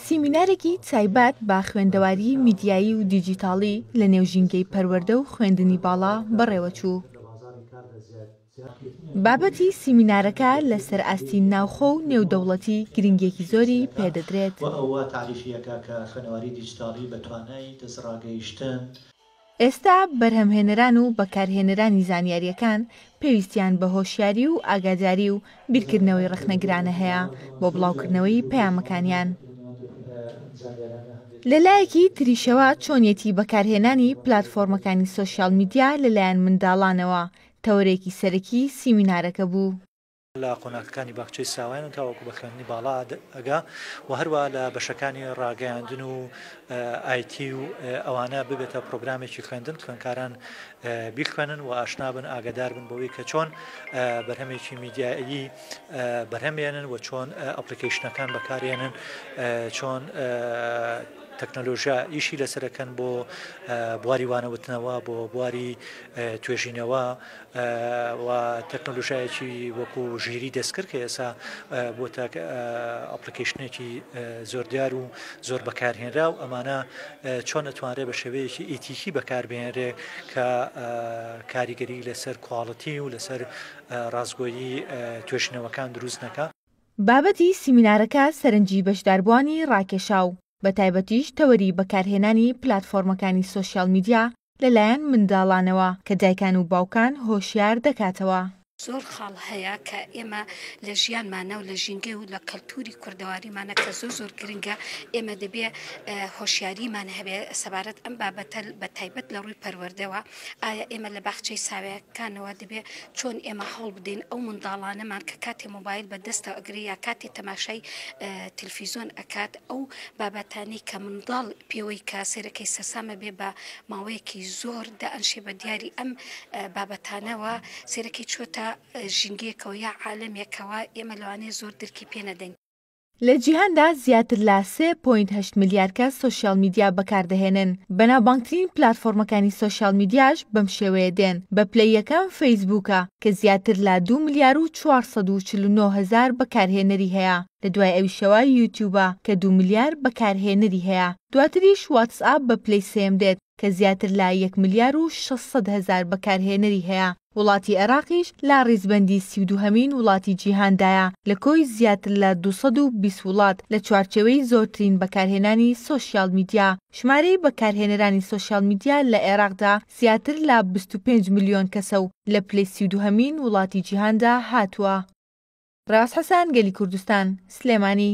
سیمینارێکی تایبەت بە خوێندەواری میدیایی و دیجیتاڵی لە نێو ژینگەی پەروەردە و خوێندنی باڵا بەڕێوەچوو. بابەتی سیمینارەکە لەسەر ئاستی ناوخۆ و نێودەوڵەتی گرنگیەکی زۆری پێدەدرێت. ئێستا بەرهەمهێنەران و بەکارهێنەرانی زانیارییەکان پێویستیان بە هۆشیاری و ئاگاداری و بیرکردنەوەی ڕەخنەگرانە هەیە بۆ بڵاوکردنەوەی پەیامەکانیان. لەلایەکی تریشەوە چۆنیەتی بەکارهێنانی پلاتفۆرمەکانی سۆشیال میدیا لەلایەن منداڵانەوە تەوەرێکی سەرەکی سیمینارەکە بوو. لە قۆناغەکانی باخچەی ساوایان و تاوەکو بە خوێندنی باڵا ئەگا و هەروە لە بەشەکانی ڕاگەیاندن و ئایتی و ئەوانە ببێتە پرۆگرامێکی خوێندن خوێنکاران بیخوێنن و ئاشنابن ئاگدار بن بۆەوەی کە چۆن بەرهەمێکی میدیایی بەرهەمێنن و چۆن ئەپلیکیشنەکان بەکارێنن چۆن تەکنەلۆژیا ئیشی لەسەرەکەن بۆ بواری وانەوتنەوە بۆ بواری توێژینەوە و تەکنەلوژایەکی وەکو ژیری دەستکرد کە ئێسا بۆ تاک ئەپلیکیشنێکی زۆر دیار و زۆر بەکارهێنرا و ئەمانە چۆن ئەتوانرێ بە شێوەیەکی ئیتیکی بەکاربێنرێ کە کاریگەری لەسەر کوواڵەتی و لەسەر ڕاستگۆیی توێشنەوەکان دروست نەکە. بابەتی سیمینارەکە سەرنجی بەشداربووانی ڕاکێشا و بە تایبەتیش تەوەری بەکارهێنانی پلاتفۆرمەکانی سۆشیال میدیا لەلایەن منداڵانەوە کە دایکان و باوکان هۆشیار دەکاتەوە. زۆر خاڵ هەیە کە ئێمە لە ژیانمانە و لە ژینگە و لە کەلتوری کوردەواریمانە کە زۆر زۆر گرنگە ئێمە دەبێ هۆشیاریمان هەبێ سەبارەت ئەم بابەتە بە تایبەت لە ڕووی پەروەردەوە ئایا ئێمە لە باخچەی ساوێکانەوە دەبێ چۆن ئێمە هەوڵ بدەین ئەو منداڵانەمان کە کاتێ مۆبایل بە دەستە ئەگرێ یا کاتێ تەماشای تلفیزۆن ئەکات ئەو بابەتانەی کە منداڵ پێوەی کە سەیرەکەی سەرسامە بێ بە ماوەیەکی زۆر دەئەنشێ بە دیاری ئەم بابەتانەوە سەیرەکەی چوەتە ژینگەیەکەوە یا عالەمێکەوە ئێمە لەوانەیە زۆر درکی پێ نەدەین. لە جیهاندا زیاتر لە سێ پۆینت هەشت ملیار کەس سۆشیال میدیا بەکاردەهێنن، بەناوبانگترین پلاتفۆرمەکانی سۆشیال میدیاش بەم شێوەیە دێن، بە پلەی یەکەم فەیسبووکە کە زیاتر لە دوو ملیار و چوار سەد و چل و نۆ هەزار بەکارهێنەری هەیە، لە دوای ئەویشەوە یوتیوبە کە دوو ملیار بەکارهێنەری هەیە دواتریش واتسئاپ بە پلەی سێیەم دێت کە زیاتر لە یەک ملیار و شەش سەد هەزار بەکارهێنەری هەیە وڵاتی ئێراقیش لە ڕیزبەندی سی و دووهەمین وڵاتی جیهاندایە لە کۆی زیاتر لە دوو سەد و بیست وڵات لە چوارچێوەی زۆرترین بەکارهێنانی سۆشیال میدیا ژمارەی بەکارهێنەرانی سۆشیال میدیا لە ئێراقدا زیاتر لە بیست و پێنج ملیۆن کەسە و لە پلەی سی و دووهەمین وڵاتی جیهاندا هاتووە. ڕاز حسان گەلی کوردستان، سلێمانی.